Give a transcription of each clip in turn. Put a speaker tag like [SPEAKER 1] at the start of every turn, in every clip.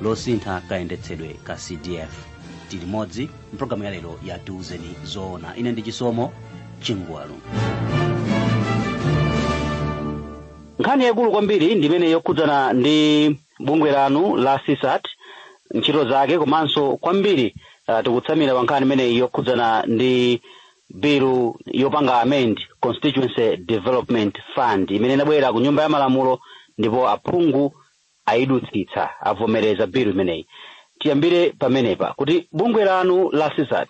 [SPEAKER 1] losintha kayendetsedwe ka cdf tili modzi mpulogalamu ya lero ya tiuzeni zoona ine ndi chisomo chingwalu nkhani yaikulu kwambiri ndi imene yokhudzana ndi bungwe lanu la CSAT ntchito zake komanso kwambiri uh, tikutsamira pa nkhani imeneyi yokhudzana ndi bilu yopanga amend constituency development fund imene inabwera ku nyumba ya malamulo ndipo aphungu ayidutsitsa, avomereza bilu imeneyi. Tiyambire pamenepa kuti bungwe lanu la CSAT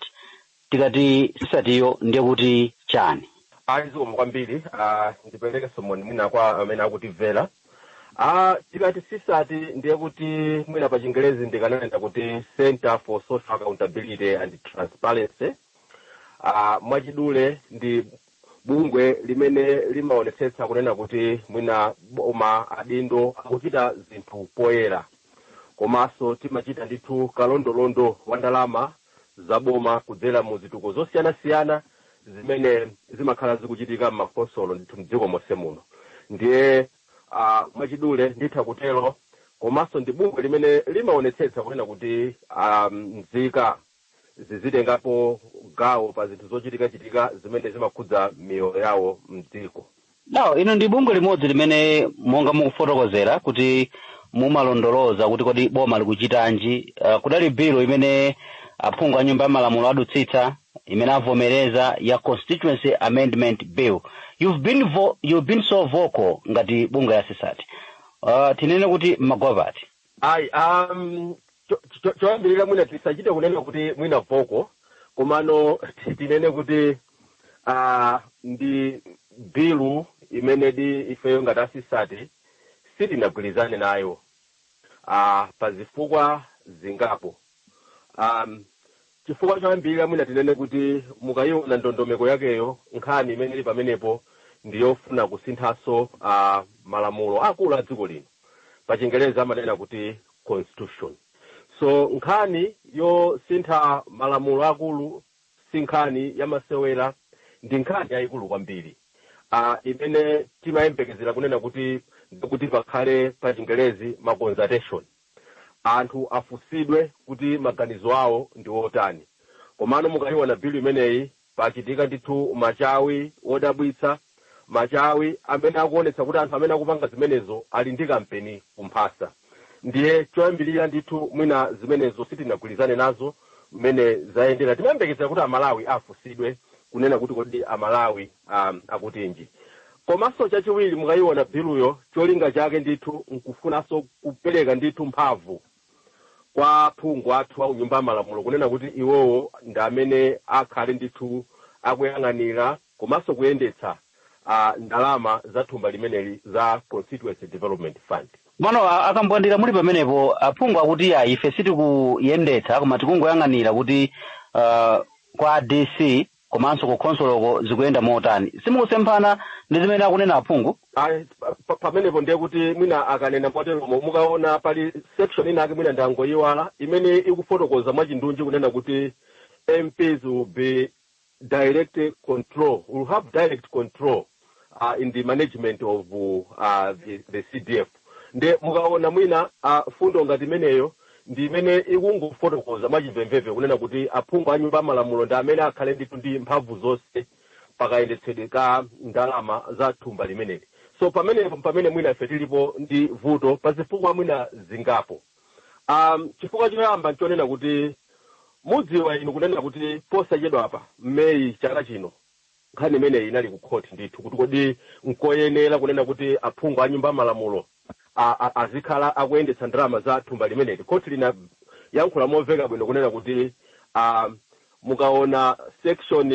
[SPEAKER 1] tikati CSAT yo ndiye kuti chani? Ayi zikomo kwambiri a ndiperekenso moni mwina kwa amene akutimvera. A tikati CSAT ndiye kuti mwina pa chingerezi ndikananena kuti Centre for Social Accountability and Transparency. A mwachidule ndi bungwe limene limaonetsetsa kunena kuti mwina boma adindo akuchita zinthu poyera komanso timachita ndithu kalondolondo wa ndalama za boma kudzera mu zituko zosiyanasiyana zimene zimakhala zikuchitika m'makhonsolo ndithu mdziko monse muno ndiye uh, mwachidule nditha kutero komanso ndi bungwe limene limaonetsetsa kunena kuti um, nzika zizitengapo gawo pa zinthu zochitikachitika zimene zimakhudza miyoyo yawo mdziko lawo inu ndi bungwe limodzi limene monga mukufotokozera kuti mumalondoloza kuti kodi boma likuchitanji uh, kudali bilu imene aphungu a nyumba ya malamulo adutsitsa imene avomereza ya constituency amendment bill you've been, vo you've been so vocal ngati bungwe la CSAT uh, tinene kuti mwagwa pati ayi um, cho- cho- choyambirira mwina tisachite kunena kuti mwina vocal komano tinene kuti uh, ndi bilu imenedi ifeyo ngati a CSAT sitinagwirizane nayo uh, pa zifukwa zingapo um, Chifukwa choyambirira, mwina tinene kuti mukaiona ndondomeko yakeyo, nkhani imene ili pamenepo ndi yofuna kusinthanso a malamulo aakulu a dziko lino. Pachingelezi amanena kuti constitution. So nkhani yosintha malamulo aakulu si nkhani yamasewera, ndi nkhani yaikulu kwambiri a imene timayembekezera kunena kuti ndithu pakhale pachingelezi ma consultation. anthu afunsidwe kuti maganizo awo ndi otani. Komano mukaiona bilu imeneyi pachitika ndithu machawi odabwitsa, machawi amene akuonetsa kuti anthu amene akupanga zimenezo ali ndi kampeni kumphasa. Ndiye choyambirira ndithu mwina zimenezo sitinagwirizane nazo mmene zayendera. Timayembekezera kuti Amalawi afunsidwe kunena kuti kodi Amalawi um, akutinji komanso chachiwiri mukayiona biluyo cholinga chake ndithu nkufunanso kupereka ndithu mphamvu kwa phungu athu au nyumba ya malamulo kunena kuti iwowo ndi amene akhale ndithu akuyang'anira komanso kuyendetsa uh, ndalama za thumba limeneli za constituency development fund komano a akambwandira muli pamenepo aphungu akuti ayi ife sitikuyendetsa koma tikungoyang'anira kuti uh, kwa dc komanso ku khonsoloko zikuyenda motani simukusemphana ndi zimene akunena aphungu ayi pa- pa- pamenepo ndiye kuti mwina akanena moteromo mukaona pali section inayake mwina ndangoyiwala imene ikufotokoza mwachindunji kunena kuti mps will be direct control will have direct control uh, in the management of uh, the, the cdf nde mukaona mwina uh, fundo ngati imeneyo ndi imene ikungofotokoza mwachimvemvemve kunena kuti aphungu a nyumba ya malamulo ndi amene akhale ndithu ndi mphamvu zonse pakayendetsedwe ka ndalama za thumba limeneli so pamenepo pamene mwina ife tilipo ndi vuto pa zifukwa mwina zingapo um, chifukwa choyamba nchonena kuti mudziwa inu kunena kuti posachedwapa mmeyi chaka chino Nkhani imeneyi inali ku court ndithu kuti kodi nkoyenera kunena kuti aphungu a nyumba ya malamulo a, a, azikhala akuyendetsa ndalama za thumba limeneli. Court linayankhula momveka bwino kunena kuti ah, mukaona section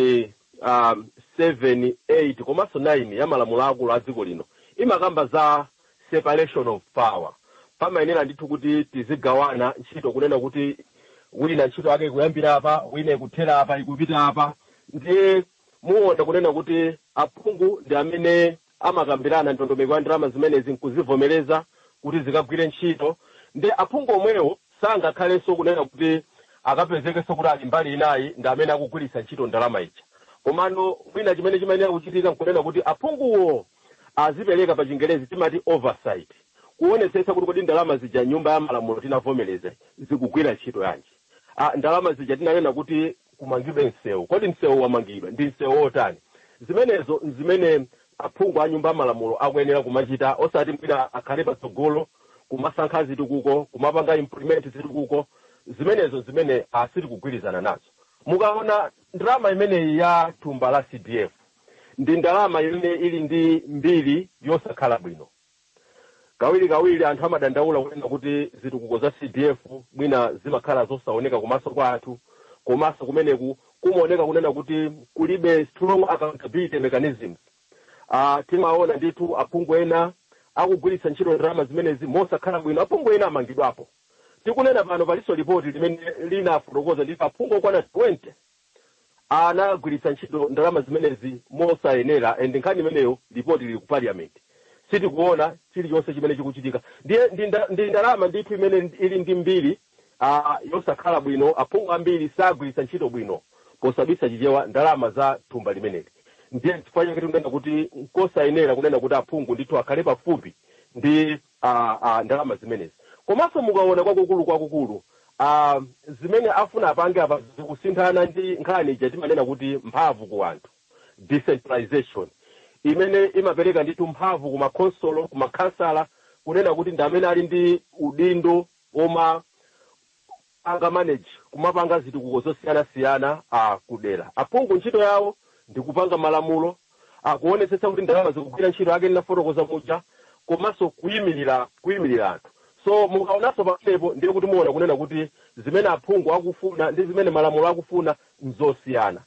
[SPEAKER 1] ah, 7, 8 komanso 9 ya malamulo aakulu a dziko lino imakamba za separation of power pamayenera ndithu kuti tizigawana ntchito kunena kuti wina ntchito yake ikuyambira apa wina ikuthera apa ikupita apa ndiye muona kunena kuti aphungu ndi amene amakambirana ndondomeko ya ndalama zimenezi nkuzivomereza kuti zikagwire ntchito ndi aphungu omwewo sangakhalenso kunena kuti akapezekenso kuti ali mbali inayi ndi amene akugwiritsa ntchito ndalama ija komano china chimene chimayenera kuchitika nkunena kuti aphunguwo azipereka pachingerezi timati oversight kuonetsetsa kuti kodi ndalama zija m'nyumba ya malamulo tinavomereza zikugwira ntchito yanji a ndalama zija tinanena kuti kumangidwe msewu kodi msewu wamangidwa ndi msewu wotani zimenezo nzimene aphungu a nyumba ya malamulo akuyenera kumachita osati mwina akhale patsogolo kumasankha zitukuko kumapanga implement zitukuko zimenezo zimene sitikugwirizana nazo mukaona ndalama imeneyi ya thumba la cdf ndi ndalama imene ili ndi mbiri yosakhala bwino kawirikawiri anthu amadandaula kunena kuti zitukuko za cdf mwina zimakhala zosaoneka kumaso kwa anthu komanso kumeneku kumaoneka kunena kuti kulibe strong accountability mechanisms uh, timaona ndithu aphungu ena akugwiritsa ntchito ndalama zimenezi mosakhala bwino aphungu ena amangidwapo tikunena pano palinso lipoti limene linafotokoza ndithu aphungu okwana 20 anagwiritsa ntchito ndalama zimenezi mosayenera and nkhani imeneyo lipoti lili ku parliament sitikuona chilichonse chimene chikuchitika ndiye ndi nda- ndi ndalama ndithu imene ili ndi mbiri ah, yosakhala bwino aphungu ambiri sagwiritsa ntchito bwino posabisa chichewa ndalama za thumba limeneli ndiye chifukwa chake tikunena kuti nkosayenera kunena kuti aphungu ndithu akhale pafupi ndi a, a, ndalama zimenezi. Komanso mukaona kwakukulu kwakukulu a, zimene afuna apange apa zikusemphana ndi nkhani ija timanena kuti mphamvu ku anthu decentralization imene imapereka ndithu mphamvu ku makhonsolo ku makhansala kunena kuti ndi amene ali ndi udindo woma panga manage kumapanga zitukuko zosiyanasiyana a kudera. Aphungu ntchito yawo ndi kupanga malamulo kuonetsetsa kuti ndalama zikugwira ntchito yake ndinafotokoza muja komanso kuyimirira kuyimirira anthu. So mukaonanso pamenepo ndiye kuti muona kunena kuti zimene aphungu akufuna ndi zimene malamulo akufuna nzosiyana.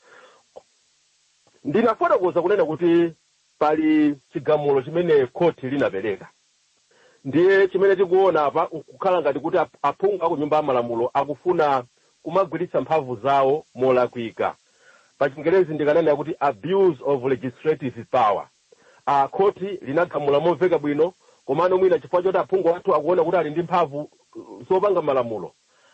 [SPEAKER 1] Ndinafotokoza kunena kuti pali chigamulo chimene khoti linapereka. Ndiye chimene tikuona apa nkukhala ngati kuti ap- aphungu a ku nyumba ya malamulo akufuna kumagwiritsa mphamvu zawo molakwika. Pa Chingerezi ndikananena kuti abuse of legislative power. A khoti linagamula momveka bwino komano mwina chifukwa choti aphungu athu akuona kuti ali ndi mphamvu uh, zopanga malamulo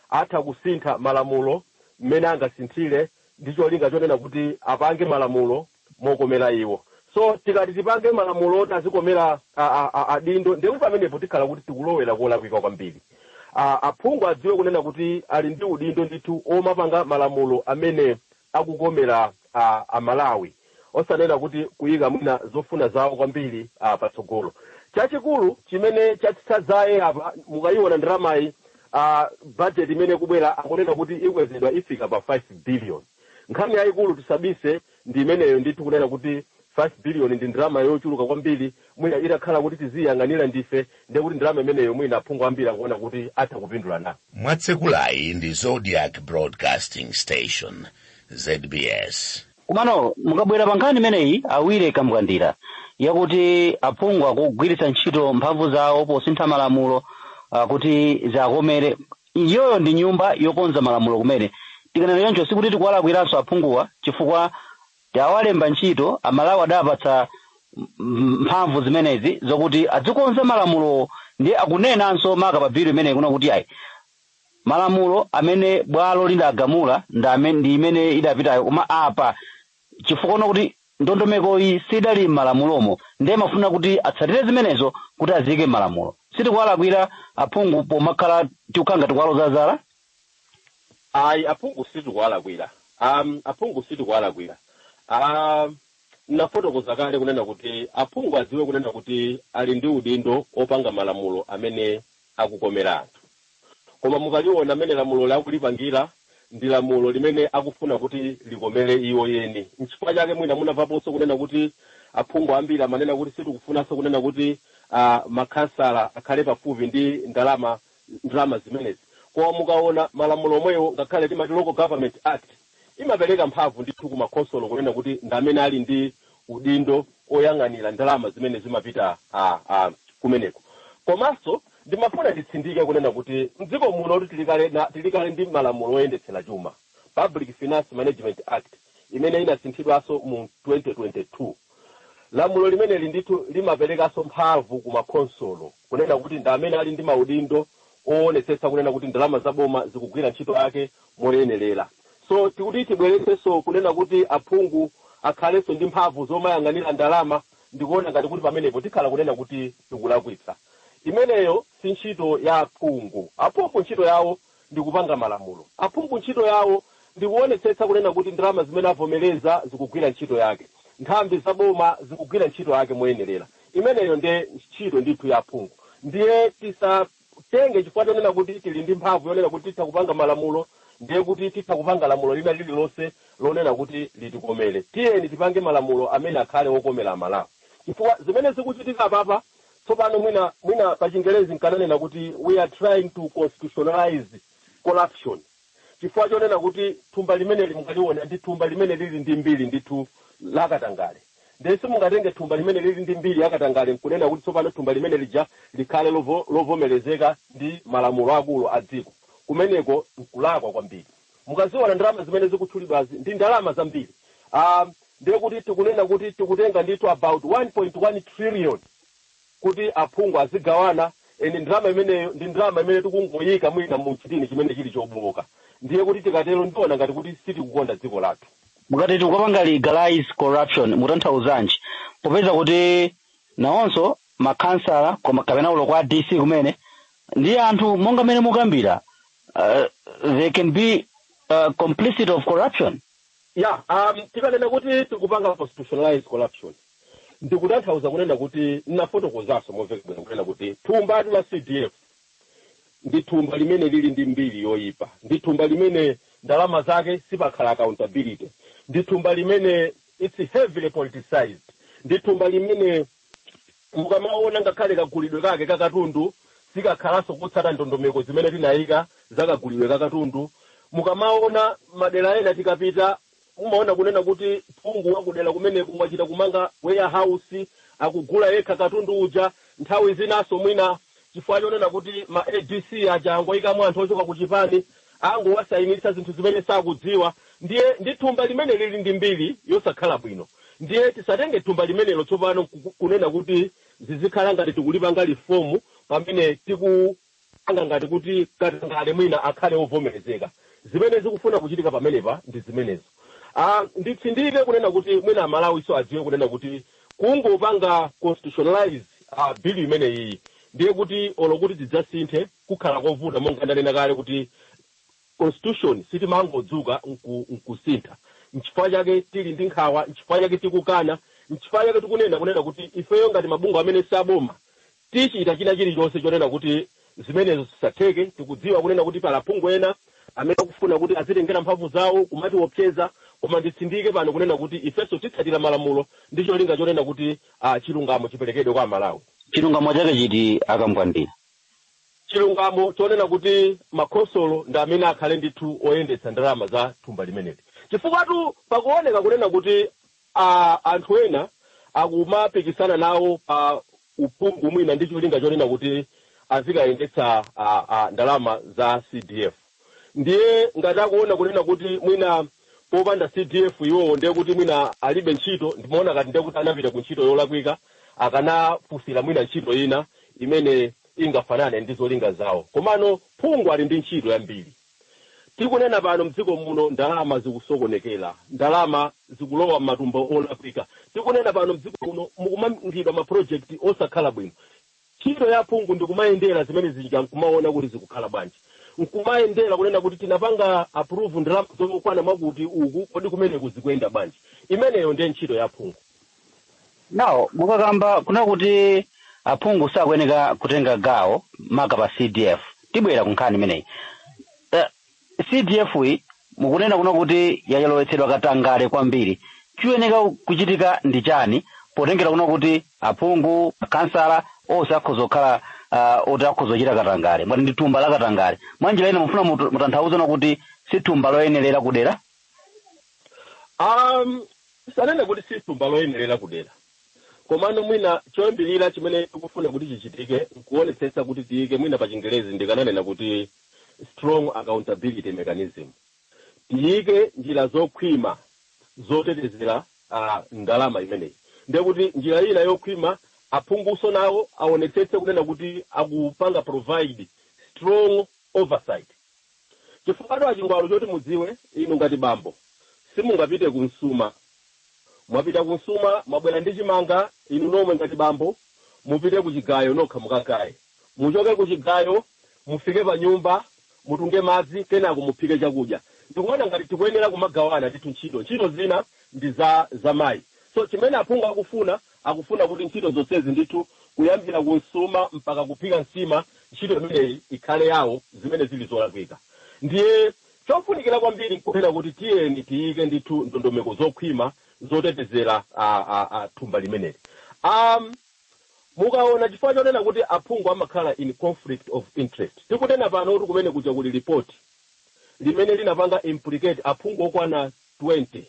[SPEAKER 1] atha kusintha malamulo mmene angasinthire ndi cholinga chonena kuti apange malamulo mokomera iwo so tikati tipange malamulo oti azikomera a- a- a- adindo ndiye kuti pamenepo tikhala kuti tikulowera kolakwika kwambiri A- aphungu adziwe kunena kuti ali ndi udindo ndithu omapanga malamulo amene akukomera a- amalawi osanena kuti kuyika mwina zofuna zawo kwambiri ah, patsogolo chachikulu chimene chatsitsa dzaye apa mukayiona ndalamayi ah, budget imene ikubwera akunena kuti ikwezedwa ifika pa 5 billion Nkhani yaikulu tisabise ndi imeneyo ndithu kunena kuti 5 billion ndi ndalama yochuluka kwambiri mwina itakhala kuti tiziyiyang'anira ndife ndiye kuti ndalama imeneyo mwina aphungu ambiri akuona kuti atha kupindula na. Mwatsekulayi ndi Zodiak Broadcasting Station, ZBS. Komano mukabwera pa nkhani imeneyi a Willie Kambwandira yakuti aphungu akugwiritsa ntchito mphamvu zawo posintha malamulo ah, kuti ziwakomere, Iyoyo ndi nyumba yokonza malamulo kumene. Tikanena choncho sikuti tikuwalakwiranso aphunguwa chifukwa tawalemba ntchito, Amalawi adawapatsa mphamvu zimenezi zokuti adzikonza malamulowo ndiye akunenanso maka pa bilu imeneyi kunena kuti ayi, malamulo amene bwalo lidagamula ndi amene ndi imene idapitayo koma apa chifukwa uona kuti ndondomekoyi sidali m'malamulomo ndiye amafuna kuti atsatire zimenezo kuti aziike m'malamulo sitikuwalakwira aphungu pomakhala tikukhala ngati kuwaloza zala ayi aphungu sitikuwalakwira um, aphungu sitikuwalakwira um, nafotokoza kale kunena kuti aphungu adziwe kunena kuti ali ndi udindo opanga malamulo amene akukomera anthu Koma mukaliwona mmene lamuloli akulipangira, ndi lamulo limene akufuna kuti likomere iwo eni. Nchifukwa chake mwina munamvaponso kunena kuti aphungu ambiri amanena kuti sitikufunanso kunena kuti a makhansala akhale pafupi ndi ndalama ndalama zimenezi. Koma mukaona malamulo omwewo ngakhale timati Local Government Act. imapereka mphamvu ndithu ku makhonsolo kunena kuti ndi amene ali ndi udindo oyang'anira ndalama zimene zimapita kumeneko. Komanso ndimafuna nditsindike kunena kuti m'dziko munotu tili kale ndi malamulo oyendetsera chuma, Public Finance Management Act, imene inasinthidwanso mu 2022. Lamulo limeneli ndithu limaperekanso mphamvu ku makhonsolo kunena kuti ndi amene ali ndi maudindo oonetsetsa kunena kuti ndalama za boma zikugwira ntchito yake moyenerera. So kuti tibweretsenso kunena kuti aphungu akhalenso ndi mphamvu zomayang'anira ndalama ndikuona ngati kuti pamenepo tikhala kunena kuti tikulakwitsa. Imeneyo si ntchito ya aphungu. Aphungu ntchito yawo ndi kupanga malamulo. Aphungu ntchito yawo ndi kuonetsetsa kunena kuti ndalama zimene avomereza zikugwira ntchito yake. Nthambi za boma zikugwira ntchito yake moyenerera. Imeneyo nde ntchito ndithu ya aphungu. Ndiye tisa. tenge chifukwa chonena kuti tili ndi mphamvu yonena kuti titha kupanga malamulo ndiye kuti titha kupanga lamulo lina lililonse lonena kuti litikomele. Tiyeni tipange malamulo amene akhale okomela Amalawi. Chifukwa zimene zikuchitika apapa tsopano mwina mwina pachingelezi nkananena kuti we are trying to constitutionalize corruption. chifukwa chonena kuti thumba limeneli mukaliona ndi thumba limene lili ndi mbiri ndithu la katangale ndiye simungatenge thumba limene lili ndi mbiri ya katangale nkunena kuti tsopano thumba limene lija likhale lovomerezeka ndi malamulo akulu a dziko kumeneko nkulakwa kwambiri mukaziona ndalama zimene zikutchulidwazi ndi ndalama zambiri um, ndiye kuti tikunena kuti tikutenga ndithu about 1.1 trillion kuti aphungu azigawana and ndalama imeneyo ndi ndalama imene tikungoyika mwina mu chitini chimene chili chobooka ndiye kuti tikatero ndiona ngati kuti sitikukonda dziko lathu mukati tikupanga legalize corruption mutanthauzanji popeza kuti nawonso makhansala koma kapena olo kwa dc kumene ndi anthu monga mmene mukambira uh, they can be uh, complicit of corruption Yeah, um, tikanena kuti tikupanga constitutionalized corruption ndikutanthauza kunena kuti ndinafotokozanso momveka bwino kunena kuti thumbatu la CDF ndi thumba limene lili ndi mbiri yoyipa, ndi thumba limene ndalama zake sipakhala accountability, ndi thumba limene it's heavily politicized, ndi thumba limene Mukamaona ngakhale kagulidwe kake ka katundu sikakhalanso kotsata ndondomeko zimene tinaika za kagulidwe ka katundu. Mukamaona madera ena tikapita mumaona kunena kuti phungu wa kudera kumeneko wachita kumanga warehouse, akugula yekha katundu uja. Nthawi zinanso mwina chifukwa chonena kuti ma adc aja angoikamo anthu ochoka ku chipani angowasainitsa zinthu zimene sakudziwa ndiye ndi thumba limene lili ndi mbiri yosakhala bwino ndiye tisatenge thumba limenelo tsopano nkuku- kunena kuti zizikhala ngati tikulipanga reform pamene tikupanga ngati kuti katangale mwina akhale ovomerezeka zimene zikufuna kuchitika pamenepa ndi zimenezo Ah, nditsindike kunena kuti mwina amalawiso adziwe kunena kuti Kungopanga constitutionalize bill imeneyiyi ndiye kuti olo kuti zidzasinthe kukhala kovuta monga ndanena kale kuti constitution sitimangodzuka nku nkusintha. Nchifukwa chake tili ndi nkhawa, nchifukwa chake tikukana, nchifukwa chake tikunena kunena kuti ifeyo ngati mabungwe amene si aboma Tichita china chilichonse chonena kuti zimenezo zisatheke. Tikudziwa kunena kuti pali aphungu ena amene akufuna kuti azitengera mphamvu zawo kumatiwopseza, koma nditsindike pano kunena kuti ifenso titsatira malamulo ndi cholinga chonena kuti a, chilungamo chiperekedwe kwa Amalawi. Chilungamo chake chiti a Kambwandira? Chilungamo chonena kuti makhonsolo ndi amene akhale ndithu oyendetsa ndalama za thumba limeneli. Chifukwatu pakuoneka kunena kuti a, anthu ena akumapikisana nawo pa uphungu mwina ndi cholinga chonena kuti azikayendetsa a, a, ndalama za CDF ndiye ngati akuona kunena kuti mwina popanda CDF iwowo ndiye kuti mwina alibe ntchito ndimaona ngati ndiye kuti anapita ku ntchito yolakwika akanafunsira mwina ntchito ina imene ingafanane ndi zolinga zawo komano phungu ali ndi ntchito yambiri Tikunena pano mdziko muno ndalama zikusokonekera, ndalama zikulowa mmatumba olakwika. Tikunena pano mdziko muno mukumangidwa ma project osakhala bwino. Ntchito ya aphungu ndi kumayendera zinthu zija nkumaona kuti zikukhala bwanji. Nkumayendera kunena kuti tinapanga approve ndalama zokwana mwakuti uku, kodi kumeneku zikuyenda bwanji. Imeneyo ndiye ntchito ya aphungu. nawo mukakamba kuna kuti aphungu sakuyeneka kutenga gawo maka pa cdf tibwera ku nkhani imeneyi Eh, cdf yi mukunena kuna kuti yayolowetsedwa katangale kwambiri chiyeneka kuchitika ndi chani potengera kuna kuti aphungu makhansala onse akhoza kukhala uh, oti akhoza kuchita katangale mwati ndi thumba la katangale mwanjira ina mufuna mutu- mutanthauze na kuti si thumba loyenerera kudera Um, sitinene kuti si thumba loyenerera kudera komano mwina choyambirira chimene tikufuna kuti chichitike nkuonetsetsa kuti tiyike mwina pa chingerezi ndikananena kuti strong accountability mechanism tiyike njira zokhwima zotetezera uh, ndalama imeneyi ndiye kuti njira ina yokhwima aphungunso nawo aonetsetse kunena kuti akupanga provide strong oversight Chifukwatu a Chingwalu choti mudziwe inu ngati bambo simungapite ku msuma mwapita ku msuma mwabwera ndi chimanga inu nomwe ngati bambo mupite ku chigayo nokha mukagaye muchoke ku chigayo mufike pa nyumba mutunge madzi kenako muphike chakudya ndikuona ngati tikuyenera kumagawana ndithu ntchito ntchito zina ndi za za mayi so chimene aphungu akufuna akufuna kuti ntchito zonsezi ndithu, kuyambira ku msuma mpaka kuphika nsima, ntchito imeneyi ikhale yawo, zimene zili zolakwika. Ndiye chofunikira kwambiri nkunena kuti tiyeni tiyike ndithu ndondomeko zokhwima zotetezera a, a, a, thumba limeneli. A, mukaona chifukwa chonena kuti aphungu amakhala in conflict of interest, tikunena pano kuti kumene kuja kuli lipoti limene linapanga implicate aphungu okwana 20.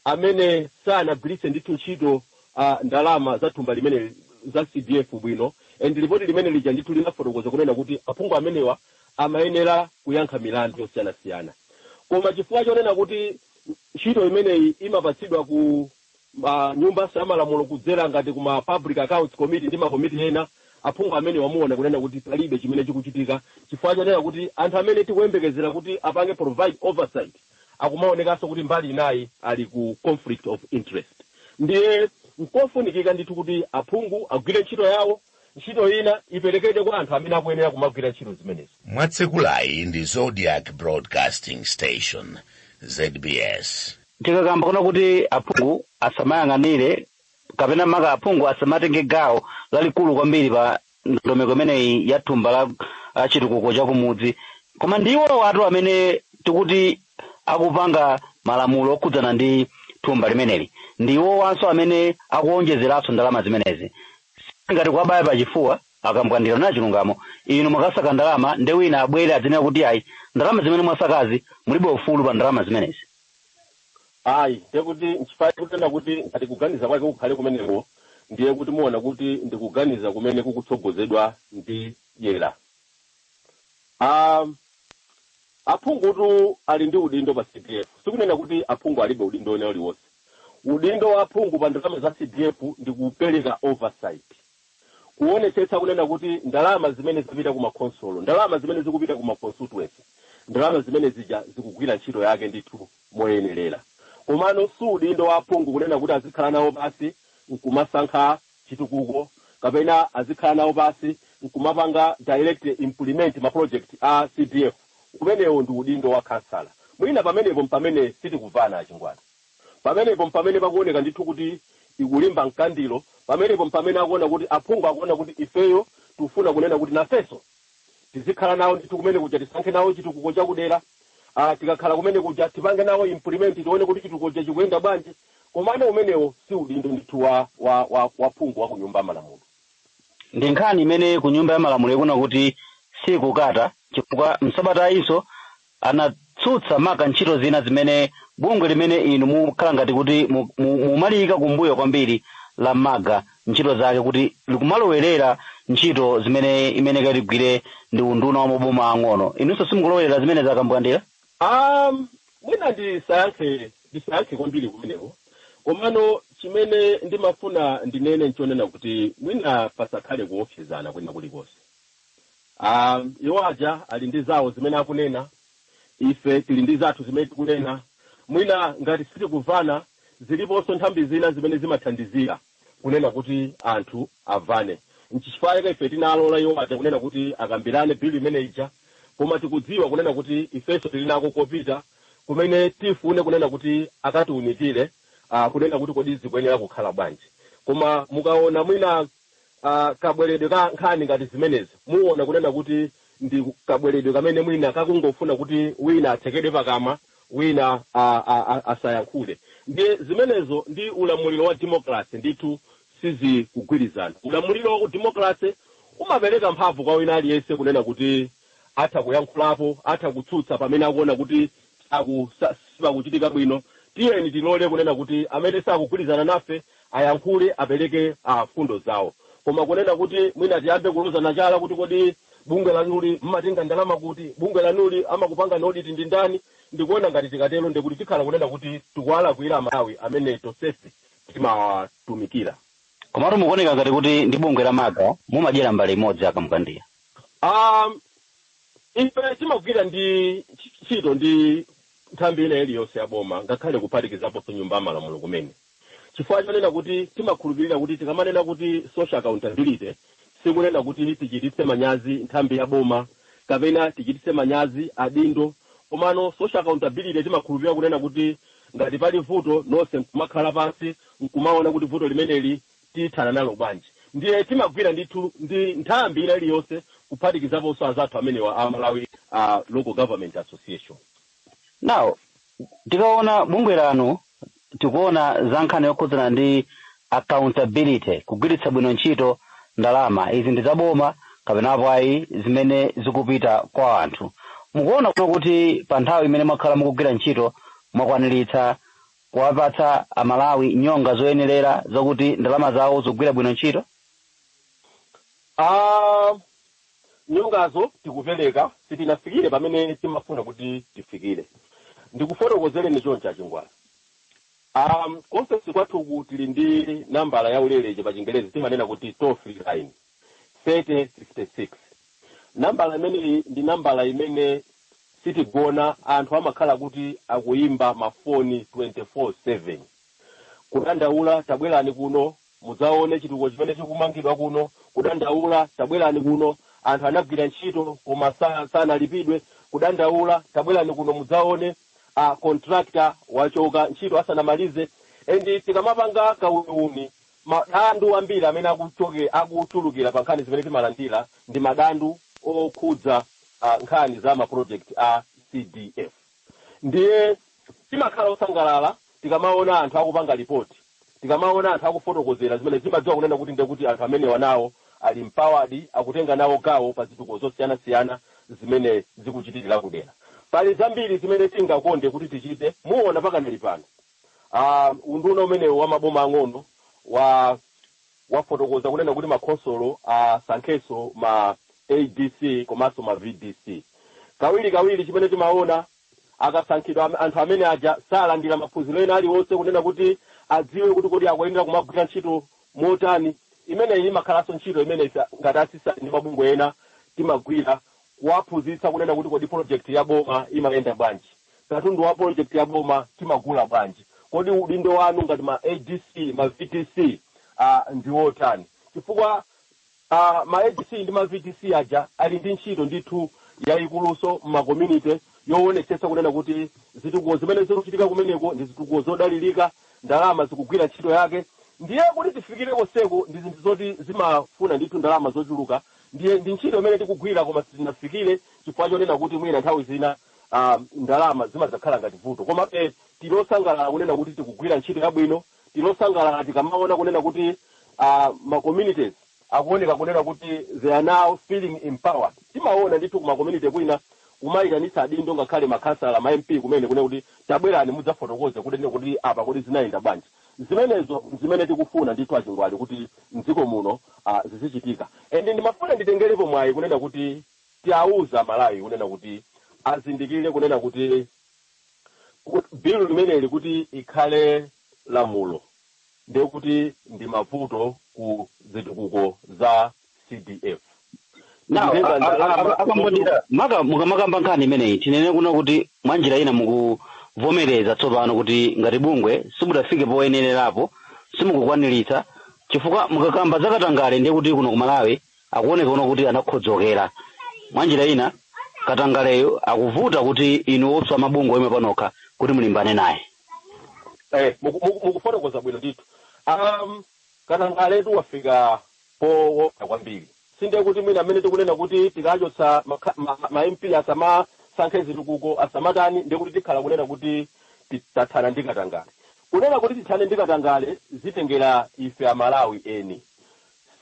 [SPEAKER 1] amene sanagwiritse ndithu ntchito a, ndalama za thumba limeneli za CDF bwino and lipoti limene lija ndithu linafotokoza kunena kuti aphungu amenewa amayenera kuyankha milandu yosiyanasiyana koma chifukwa chonena kuti ntchito imeneyi imapatsidwa ku nyumba za malamulo kudzera ngati ku ma public accounts committee ndi makomiti ena aphungu amenewa muona kunena kuti palibe chimene chikuchitika chifukwa chonena kuti anthu amene tikuyembekezera kuti apange provide oversight akumaonekanso kuti mbali inayi ali ku conflict of interest ndiye nkofunikika ndithu kuti aphungu agwire ntchito yawo ntchito ina iperekedwe kwa anthu amene akuyenera kumagwira ntchito zimenezo mwatsegulayi ndi zodiac broadcasting station zbs tikakamba kuna kuti aphungu asamayang'anire kapena maka aphungu asamatenge gawo lalikulu kwambiri pa ndondomeko imeneyi ya thumba la ah, chitukuko cha kumudzi koma ndi iwowatu amene tikuti akupanga malamulo okhudzana ndi thumba limeneli ndi iwowanso amene akuonjezeranso ndalama zimenezi singati kuwabaya pachifuwa a Kambwandira kunena chilungamo inu mwakasaka ndalama nde wina abwere adzinena kuti ayi ndalama zimene mwasakazi mulibe ufulu pa ndalama zimenezi ayi ndiye kuti nchifukwa tikunena kuti ngati kuganiza kwake kukhale kumeneko ndiye kuti muona kuti ndi kuganiza kumene kukutsogozedwa ndi dyera Ah, aphungutu ali ndi udindo pa cdf sikunena kuti aphungu alibe udindo wina uliwonse udindo wa aphungu pa ndalama za cdf ndi kupereka oversight Kuonetsetsa kunena kuti ndalama zimene zapita ku makhonsolo, ndalama zimene zikupita ku ma constituency, ndalama zimene zija zikugwira ntchito yake ndithu moyenerera. Komano si udindo wa aphungu kunena kuti azikhala nawo pansi nkumasankha chitukuko kapena azikhala nawo pansi nkumapanga direct implement ma project a CDF. Umenewo ndi udindo wa khansala. Mwina pamenepo mpamene sitikuvana a Chingwati. Pamenepo mpamene pakuoneka ndithu kuti ikulimba mkangano, pamenepo mpamene akuona kuti, aphungu akuona kuti ifeyo tikufuna kunena kuti nafenso tizikhala nawo ndithu kumene kuja, tisankhe nawo chitukuko cha kudera, ah, tikakhala kumene kuja tipange nawo implement, tione kuti chitukuko chija chikuyenda bwanji, komano umenewo si udindo ndithu wa, wa, wa, wa phungu wa ku Nyumba ya Malamulo. Ndi nkhani imene ku Nyumba ya Malamulo ikuona kuti siikukata chifukwa m'sabatayinso anatsutsa maka ntchito zina zimene bungwe limene inu mukhala ngati kuti mu- mu- mumaliyika kumbuyo kwambiri la maga ntchito zake kuti likumalowerera ntchito zimene imene kakugwira ndi unduna wa maboma ang'ono inunso simukulowerera zimene zakambwandira um, mwina ndisayankhe ndisayankhe kwambiri kumeneko komano chimene ndimafuna ndinene nchonena kuti mwina pasakhale kuopsezana kwina kulikonse um, iwo aja ali ndi zawo zimene akunena ife tili ndi zathu zimene tikunena mwina ngati sitikuvana ziliponso nthambi zina zimene zimathandizira kunena kuti anthu avane nchifukwa chake ife tinalola iwo aja kunena kuti akambirane bill imene ija koma tikudziwa kunena kuti ifenso tili nako kopita kumene tifune kunena kuti akatiunikire uh, kunena kuti kodi zikuyenera kukhala bwanji koma mukaona mwina uh, kabweredwe ka nkhani ngati zimenezo muona kunena kuti ndi kabweredwe kamene mwina kakungofuna kuti wina atsekedwe pakamwa wina a- a- a- asayankhule ndiye zimenezo ndi ulamuliro wa demokrasi ndithu sizikugwirizana ulamuliro wa udemokrasi umapereka mphamvu kwa wina aliyense kunena kuti atha kuyankhulapo atha kutsutsa pamene akuona kuti saku, sa, sipakuchitika bwino. Tiyeni tilole kunena kuti amene sakugwirizana nafe ayankhule, apereke a, fundo zawo. Koma kunena kuti mwina tiyambe kulozana chala kuti kodi bungwe lanuli mmatenga ndalama kuti, bungwe lanuli amakupangani audit ndi ndani, ndikuona ngati tikatero ndiye kuti tikhala kunena kuti tikuwalakwira Amalawi amene tonsefe timawatumikira. Komatu mukuoneka ngati kuti ndi bungwe la MAGA mumadyera mbale imodzi a Kamkandiya. A, Ife timagwira ndi ntchito ndi nthambi ina iliyonse ya boma ngakhale kuphatikizaponso Nyumba ya Malamulo kumene chifukwa chonena kuti timakhulupirira kuti tikamanena kuti social accountability sikunena kuti tichititse manyazi nthambi ya boma kapena tichititse manyazi adindo komano social accountability timakhulupirira kunena kuti ngati pali vuto nonse nkumakhala pansi nkumaona kuti vuto limeneli tithana nalo bwanji? Ndiye timagwira ndithu ndi nthambi ina iliyonse kuphatikizaponso azathu amenewa a Malawi a Local Government Association. Now, tikaona bungwe lanu tikuona za nkhani yokhudzana ndi accountability, kugwiritsa bwino ntchito ndalama. Izi ndi zaboma kapena apo ayi zimene zikupita kwa anthu. Mukuona kuti pa nthawi imene mwakhala mukugwira ntchito mwakwaniritsa kuwapatsa amalawi nyonga zoyenerera zokuti ndalama zawo zikugwira bwino ntchito Ah, nyongazo tikupereka sitinafikire pamene timafuna kuti tifikire ndikufotokozereni choncho a Chingwana um, ku ofesi kwathuku tili ndi nambala ya ulere pa chingerezi timanena kuti toll free line 3056 nambala imeneyi ndi nambala imene sitigona anthu amakhala kuti akuyimba mafoni 24/7 kudandaula tabwerani kuno mudzaone chitukuko chimene chikumangidwa kuno kudandaula tabwerani kuno anthu anagwira ntchito koma sa- sanalipidwe kudandaula tabwerani kuno mudzaone a contractor wachoka ntchito asanamalize and tikamapanga kauniuni Madando ambiri amene akuchulukira pa nkhani zimene timalandira ndi madando okhudza nkhani za ma project a CDF ndiye timakhala osangalala tikamaona anthu akupanga report, tikamaona anthu akufotokozera zimenezi timadziwa kunena kuti ndiye kuti anthu amenewa nawo ali empowered, akutenga nawo gawo pa zitukuko zosiyanasiyana zimene zikuchitikira kudera. Pali zambiri zimene tingakonde kuti tichite, muona pakanali pano Uh, unduna umenewu wa maboma ang'ono wa wafotokoza kunena kuti makhonsolo asankhenso uh, ma adc komanso ma vdc kawiri kawiri chimene timaona akasankhidwa anthu amene aja salandira maphunziro ena aliwonse kunena kuti adziwe kuti kodi akuyenera kumagwira ntchito motani imeneyi imakhalanso ntchito imene ngati a CSAT ndi mabungwe ena timagwira kuwaphunzitsa kunena kuti kodi project ya boma imayenda bwanji, katundu wa project ya boma timagula bwanji, kodi udindo wanu ngati ma adc, ma vdc a ndi wotani chifukwa a ma adc ndi ma vdc aja ali ndi ntchito ndithu yayikuluso mma community yowonetsetsa kunena kuti zitukuko zimene zikuchitika kumeneko ndi zitukuko zodalirika, ndalama zikugwira ntchito yake ndiye kuti tifikire konseku ndi zinthu zoti zimafuna ndithu ndalama zochuluka Ndiye ndi ntchito imene tikugwira koma sitinafikire chifukwa chonena kuti mwina nthawi zina ah, ndalama zimadzakhala ngati vuto komabe tili osangalala kunena kuti tikugwira ntchito yabwino tili osangalala tikamaona kunena kuti ah, ma communities akuoneka kunena kuti they are now feeling empowered timaona ndithu kuma community kwina kumayitanitsa adindo ngakhale makhansala ma mp kumene kunena kuti tabwerani mudzafotokoze kuti kodi apa kodi zinayenda bwanji zimenezo nzimene tikufuna ndithu a Chingwalu kuti mdziko muno ah zizichitika and ndimafuna nditengerepo mwayi kunena kuti tiauze amalawi kunena kuti azindikire kunena kuti bill limeneli kuti ikhale lamulo ndekuti ndimavuto ku zitukuko za cdf Now, Kutenga a- a- ndalama a- akambonera maka mukamakamba nkhani imeneyi tinene kuno kuti mwanjira ina mukuvomereza tsopano kuti ngati bungwe simudafike poyenererapo simukukwaniritsa chifukwa mukakamba zakatangale ndiye kuti kuno ku malawi akuoneka kuno kuti anakhodzokera mwa njira ina katangaleyo akuvuta kuti inu osa mabungwe oyima panokha kuti mulimbane naye eh, muku- muku- mukufotokoza bwino ndithu um, katangaletu wafika powopsa kwambiri sindiye kuti mwina mmene tikunena kuti tikachotsa makha- ma, ma, ma mp asamasankhe zitukuko asamatani ndiye kuti tikhala kunena kuti ti- tathana ndi katangale kunena kuti tithane ndi katangale zitengera ife amalawi eni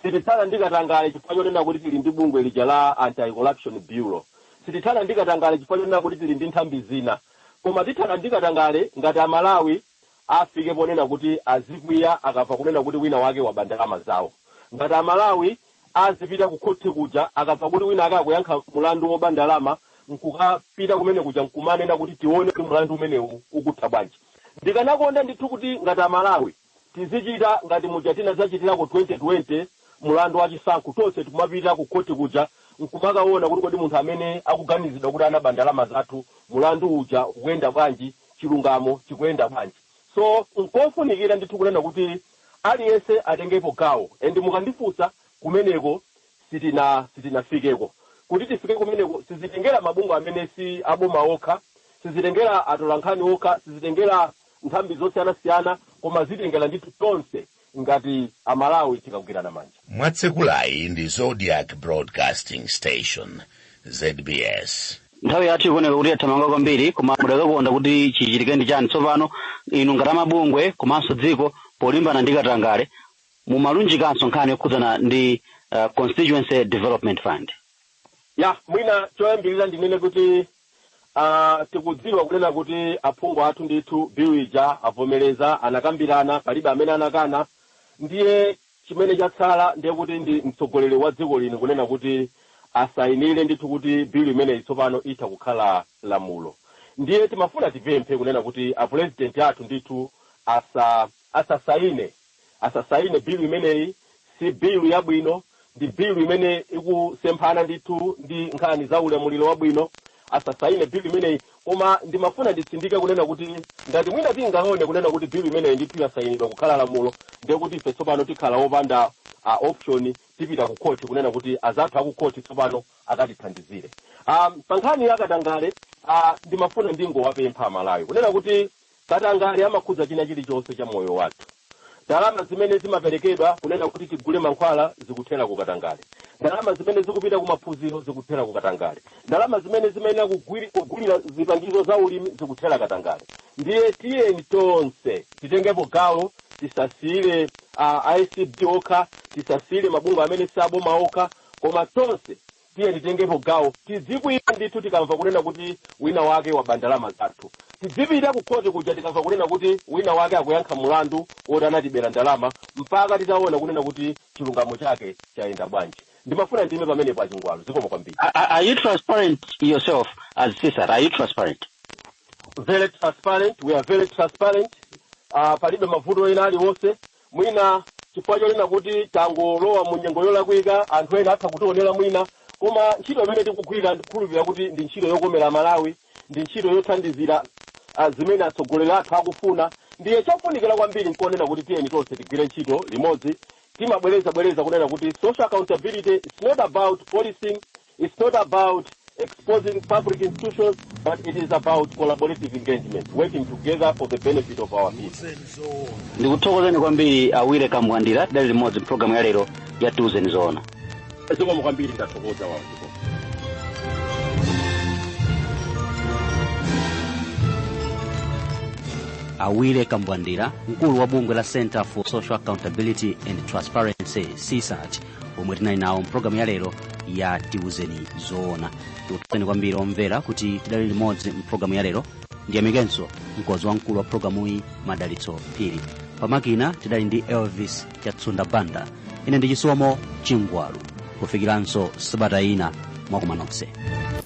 [SPEAKER 1] sitithana ndi katangale chifukwa chonena kuti tili ndi bungwe lija la anti corruption bureau sitithana ndi katangale chifukwa chonena kuti tili ndi nthambi zina koma tithana ndi katangale ngati amalawi afike ponena kuti azikwiya akamva kunena kuti wina wake waba ndalama zawo. Ngati a Malawi azipita ku khothi kuja akamva kuti wina ake akuyankha mulandu woba ndalama nkukapita kumene kuja nkumanena kuti tione kuti mulandu umenewu ukutha bwanji. Ndikanakonda ndithu kuti ngati a Malawi tizichita ngati muja tinadzachitirako 2020 mulandu wa chisankho tonse nkumapita ku khothi kuja nkumakaona kuti kodi munthu amene akuganizidwa kuti anaba ndalama zathu mulandu uja ukuyenda bwanji chilungamo chikuyenda bwanji so nkofunikira ndithu kunena kuti aliyense atengepo gawo and mukandifunsa kumeneko sitina sitinafikeko kuti tifike kumeneko sizitengera mabungwe amene si aboma okha sizitengera atolankhani okha sizitengera nthambi zosiyanasiyana koma zitengera ndithu tonse ngati a Malawi tikagwirana manja. Mwatsekulayi ndi Zodiak Broadcasting Station, zbs. Nthawi yathu ikuoneka kuti yathamanga kwambiri koma mudakakonda kuti chichitike ndi chani tsopano? Inu ngati amabungwe komanso dziko polimbana ndi katangale nkumalunjikanso nkhani yokhudzana ndi uh, Constituency Development Fund. Ya, mwina choyambirira ndinene kuti Aaa tikudziwa kunena kuti aphungu athu ndithu bill ija avomereza anakambirana palibe amene anakana ndiye chimene chatsala ndiye kuti ndi mtsogoleri wa dziko lino kunena kuti asayinire ndithu kuti bill imeneyi tsopano itha kukhala lamulo ndiye timafuna tipemphe kunena kuti apulezidenti athu ndithu asa asasayine asasaine bill imeneyi si bill yabwino ndi bill imene ikusemphana ndithu ndi nkhani za ulamuliro wabwino asasaine bill imeneyi koma ndimafuna nditsindike kunena kuti ngati mwina tingaone kunena kuti bill imeneyi ndithu yasayinidwa kukhala lamulo ndiye kuti ife tsopano tikhala opanda option tipita ku khoti kunena kuti azathu akukhoti tsopano akatithandizire um, pa nkhani ya katangale uh, ndimafuna ndingowapempha amalawi kunena kuti Katangale amakhudza china chilichonse cha moyo wathu. Ndalama zimene zimaperekedwa kunena kuti tigule mankhwala zikuthera ku katangale. Ndalama zimene zikupita ku maphunziro zikuthera ku katangale. Ndalama zimene zimayenera kugulira zipangizo za ulimi zikuthera katangale. Ndiye tiyeni tonse titengepo gawo, tisasiyire a acb okha, tisasiyire mabungwe amene si aboma okha, koma tonse Tiyeni titengepo gawo. Tidzikwiya ndithu tikamva kunena kuti wina wake waba ndalama zathu. Tidzipitira kukhoti kuja tikamva kunena kuti wina wake akuyankha mlandu woti anatibera ndalama mpaka titaona kunena kuti chilungamo chake chayenda bwanji. Ndimafuna ndiime pamenepo a Chingwalu. Zikomo kwambiri. Are you transparent yourself as CSAT? Are you transparent? Very transparent. We are very transparent. Uh, palibe mavuto ena aliwonse. Mwina chifukwa chonena kuti tangolowa mu nyengo yolakwika, anthu ena atha kutionera mwina, koma ntchito imene tikugwira ndikukhulupilira kuti ndi ntchito yokomera Amalawi, ndi ntchito yothandizira zimene atsogoleri athu akufuna, ndiye chofunikira kwambiri nkunena kuti tiyeni tonse tigwire ntchito limodzi. Timabwereza bwereza kunena kuti social accountability, its not about policing, It's not about exposing public institutions, but it is about collaborative engagement, working together for the benefit of our people. ndikuthokozeni kwambiri a Willy Kambwandira tidali limodzi mpulogalamu ya lero ya tiuzeni zoona Zikomo kwambiri ndathokoza wawo. a Willy Kambwandira mkulu wa bungwe la center for social accountability and transparency csat omwe tinali nawo mpulogalamu ya lero ya tiuzeni zoona tikuthokozeni kwambiri omvera kuti tidali limodzi mpulogalamu ya lero ndiyamikenso mkonzi wamkulu wa pulogalamuyi madalitso phiri pamakina tidali ndi elvis chatsunda banda ine ndi chisomo chingwalu kufikiranso sabata ina mwa kuma nonse